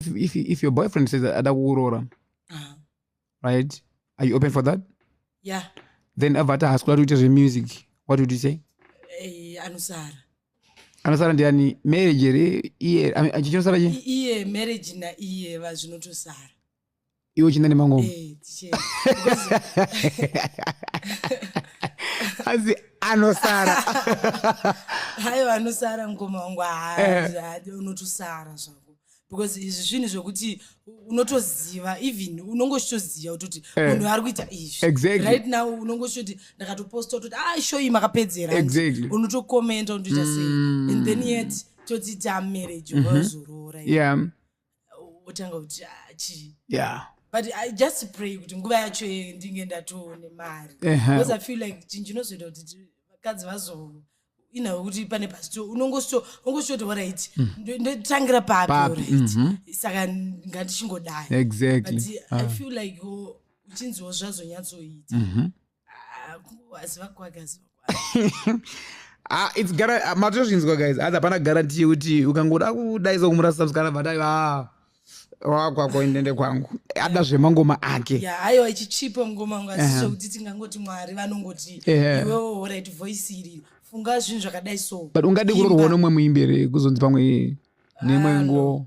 if, if your boyfriend says ada kukuroora ah. right are you open for that yeah then avata hasikuda kuita zvemusic what would you say eh, anosara anosara ndiani marriage here iye chichinosara chi iye marriage naiye vazvinotosara iwe uchinda nemangomo eh, asi anosara hayo anosara mukoma wangu haadi eh. unotosara zvako because izvi zvinhu zvekuti unotoziva even unonge uchitoziva kutoti eh. munhu ari kuita izvi right now unonge uchitoti ndakatoposta kutoti a ah, shoyi makapedzera unotokomenta unotoita sei mm. and then yet toti tamarriage wazoroora mm-hmm. yeah wotanga kuti ah, chii yeah but i just pray kuti nguva yacho ndinge ndatoone mari because i feel like chinhu chinozoita kuti vakadzi vazo inawe kuti pane pasito unongosvoti orit mhm. ndotangira papi orit mhm. saka ngandichingodai exactly but i ah. feel like oh, uchinziwo zvazonyatsoita mhm. Ah, it's gara ah, matozvinzwa guys asi hapana garanti yekuti ukangoda kudaisa kumurasa musikana but aiva ah, wakwako indende kwangu ada zvemangoma ake aiwa ichichipa ngoma yangu asi zvekuti tingangoti mwari vanongoti iwewo orit voice iri funga zvinhu zvakadai so but ungadi kurorwa nomwe muimberi kuzonzi pamwe nemwe nguwo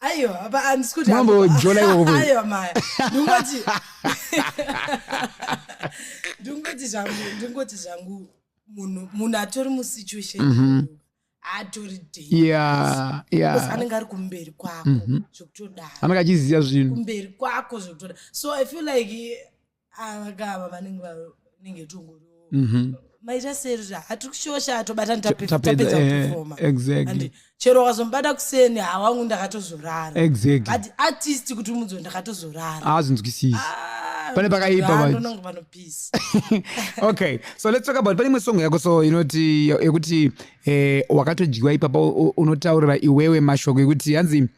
aiwa apa handisi kuti mambo jona iwoko aiwa maya ndingoti ndingoti zvangu ndingoti zvangu munhu munhu atori musituation mm -hmm. atori yeah, yeah. anenge ari kumberi kwako mm -hmm. zvekutodaro anenge achiziva zvinhu kumberi kwako zvekutodaro so i feel like avagava vanenge vanenge tongoriwo mhm. maita serira hatiri kushosha atobata tapedza eh, kufoma and chero wakazomubata kuseni hawangu ndakatozorara but artist kuti umudzo ndakatozorara azvinzwisisi ah, pane pakaipa okay so let's talk about pane imwe songo yako so inoti yekuti eh, wakatodyiwa ipapa unotaurira iwewe mashoko ekuti hanzi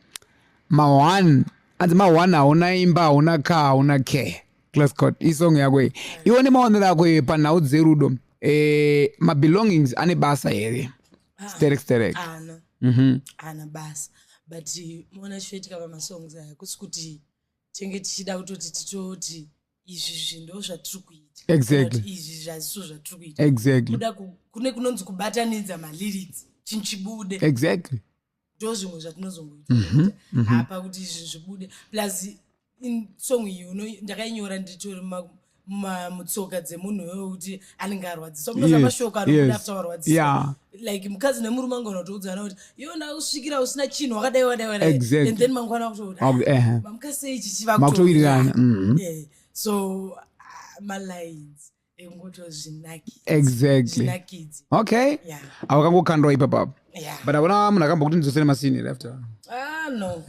ma one hanzi mawana hauna imba hauna ka hauna care class code isong yako iyi iwo nemaonero ako iwe panhau dzerudo eh, mabelongings ane basa here sterek sterek ana Mhm. ana basa but moona chinoitika pamasongs aya kusi kuti tinenge tichida kutoti titoti izvi zvi ndo zvatiri kuita Exactly. Kana kuti izvi zvaziso zvatiri kuita exactly kuda ku- kune kunonzi kubatanidza malyrics chinhu chibude exactly ndo zvimwe zvatinozongoita mhm, mhm. hapa kuti izvi zvibude plus song iyi ndakainyora nditori mutsoka dzemunhu iwoyo kuti anenge arwadziswa kunoza mashoko anobuda after warwadziswa like mukadzi nemurume angona kutoudzana kuti iyo ndakusvikira usina chinhu wakadai wadai wadai and then mangwana kutouti ah, mamukasei ichi chivakutowirirana mhm. eh, so ah, malines exactly okay yeah. awakangokandwa ipapapo yeah. but avona munhu akambokuti ndidzosere masiniri after ah, no.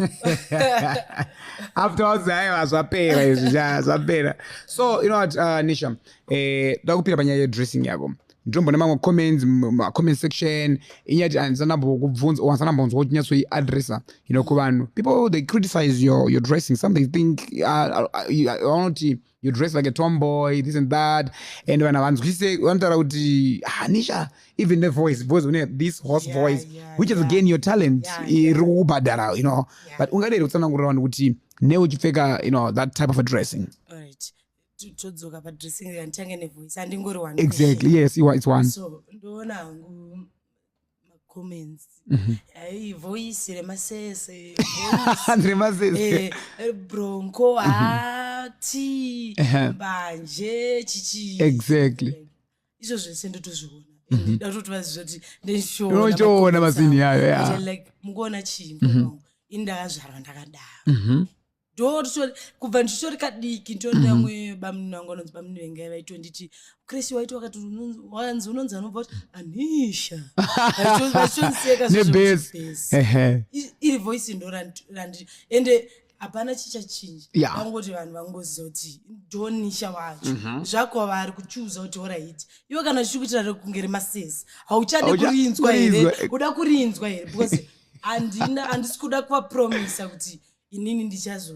afterwards aiwa zvapera izvi zvapera so you know what uh, nisha eh, ndakupira panyaya yedressing yako ndombo nemamwe comments comment section inyati andisanambokubvunza or andisanambonzwa kuti nyatso iadressa you know kuvanhu people they criticize your, your dressing some they think uh, uh, uh, vanoti uh, uh, you dress like a tomboy this and that and vanhu havanzwisise vanotaura kuti hanisha ah, even the voice voice une this horse yeah, voice yeah, which is yeah. again your talent iri kukubhadhara you know yeah. but ungade here kutsanangurira vanhu kuti ne uchipfeka you know that type of a dressing right todzoka padressing anditange nevoice andingori one exactly yes it's one so ndoona hangu voice remasese remasese bronco hati mbanje chichi exactly izvo zvese ndotozviona mhm. ndatoti vaziva kuti ndinotoona mazinhi ayo mukuona chii ini ndakazvarwa ndakadaro mhm. ndokubva ndichitori kadiki nditori mhm. vamwe bamunini vangu vanonzi bamunini vengai vaitonditi kresi waiti wakati wanzi unonzi anobva kuti anisha vaitondisekaairi voice ndo randiri ende hapana chichachinja vangoti vanhu vangozoti ndonisha wacho mhm. zvakova ari kuchuza kuti oraiti iwe kana chichi kuitira rekunge remasezi hauchade kurinzwa here uda kurinzwa here because handina handisi kuda kuvapromisa kuti inini ndichazo